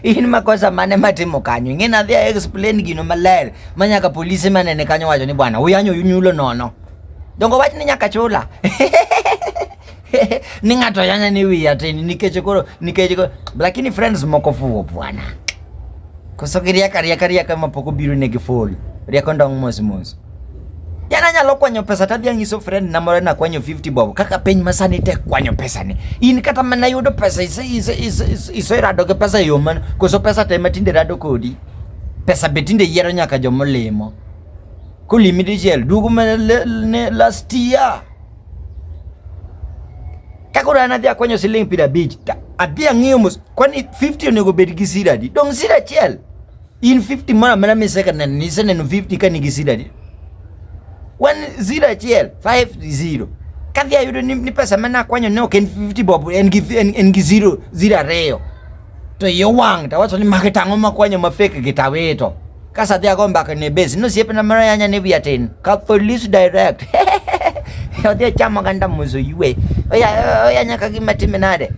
in makosa mane matimo kanyo ing'e nadhi a explain gino maler ma nyaka polise manene kanyo wacho ni bwana uyanyo yunyulo nono dongo wach ni nyaka chula ni ng'ato yanya ni wiya tini nikech koro nikech lakini friends moko fuwo bwana Koso giriaka riaka riaka ma pok obiro ne gifol. Riako ndong' mos mos. Yana nyalo kwanyo pesa tadhi anyiso friend na moro nakwanyo 50 bob kaka piny masani tek kwanyo pesa ni. In kata mana yudo pesa ise ise ise ise ise rado gi pesa e yo man koso pesa te matinde rado kodi. Pesa be tinde yiero nyaka jomolimo. Kolimi dichiel duogo mana le- ne last year. Kaka udan adhi akwanyo siling' piero abich to adhi ang'iyo mos kwani 50 onego bed gi sira adi? Dong' sira achiel in 50 moro amora miseneno niseneno 50 ka nigi sira adi? Wan sira achiel 50 kadhi ayudo ni, ni pesa mane akwanyo ne ok en 50 bob en gi en, en gi zero zero ariyo to iye owang' tawacho ni magi tang'o makwanyo ma fake gi tawito kasa dhi ago mbaka ne base no siepe na mara yanya ne via tin ka police direct odhi ochamo ganda muzo yue oya oya nyaka gima time nade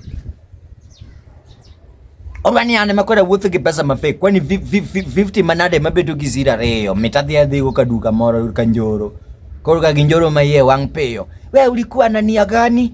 Orwani ane makwenda wuotho gi pesa ma fake kwani 50 manade mabedo gi zira reyo mitadhi adhigo ka duka moro ka njoro koro ka ginjoro ma iye wang' piyo we ulikuwa nania gani